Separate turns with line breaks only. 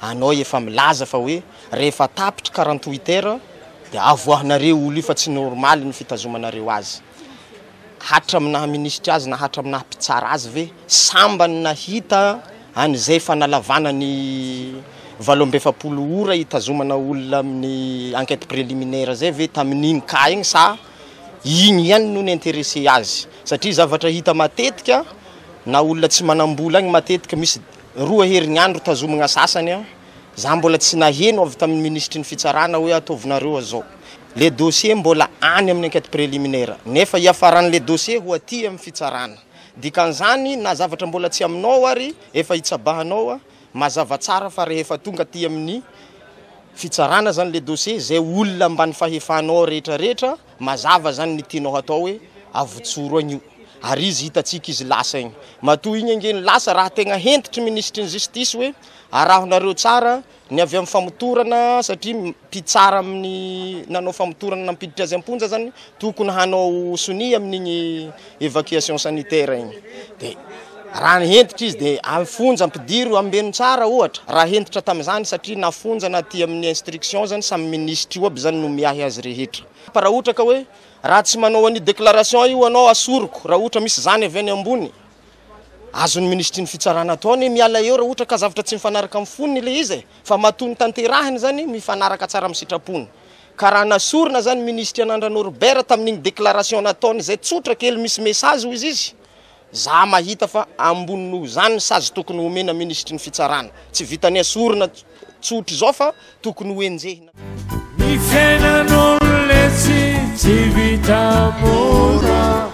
anao efa milaza fa hoe rehefa tapitry karan twitter dia avoahanareo olo io fa tsy normaly ny fitazomanareo azy hatram naha minisitra azy na hatram naha mpitsara azy ve sambany nahita any zay fanalavana ny valo amby efapolo ora hitazomana olona amin ny enquete preliminaire zay ve tamin iny cas iny sa iny ihany no ni interesse azy satria zavatra hita matetika na olona tsy manam bola any matetika misy Roa herinandro tazomina sasany an, za mbola tsy naheno avy tamin'ny minisitry ny fitsarana hoe ataovinareo azao. Le dossier mbola any amin'ny enquête préliminaire, nefa hiafaran'le dossier ho aty amin'ny fitsarana. Dikan'izany na zavatra mbola tsy aminao ary efa hitsabahanao an, mazava tsara fa rehefa tonga aty amin'ny fitsarana zany le dossier, zay olona ambany fahefanao rehetra rehetra, Mazava zany ny tianao hatao hoe avotsoro agny io ary izy hitantsika izy lasa igny. Matoa igny ange ny lasa raha tegna hentitry minisitry ny justice hoe arahinareo tsara ny avy amin'ny famotorana satria mpitsara amin'ny nanao famotorana nampiditra azy am-ponja zany tokony hanao sonia amin'igny Evacuation sanitaire iny de raha hentitra izy de any fonja ampidiro ambeno tsara ohatra raha hentitra tamin'izany satria na fonja na aty amin'ny instruction zany samy minisitra io aby zany no miahy azy rehetra fa raha ohatra ka hoe raha tsy manao an'io déclaration io anao asoriko raha ohatra misy zany avy any ambony azon'ny minisitry ny fitsarana atao anie miala eo raha ohatra ka zavatra tsy mifanaraka amin'ny fonony ilay izy e fa matoa ny tanterahiny zany mifanaraka tsara amin'ny sitrapony Ka raha nasorina zany ministry anandra Norbert tamin'iny déclaration nataony izay tsotra kely misy message hoy izy za mahita fa ambony noho izany ny sazy tokony homena ministry ny fitsarana tsy vitany asorina tsotra izao fa tokony ho enjehina Ny
fiainan'olona etsy tsy vita mora.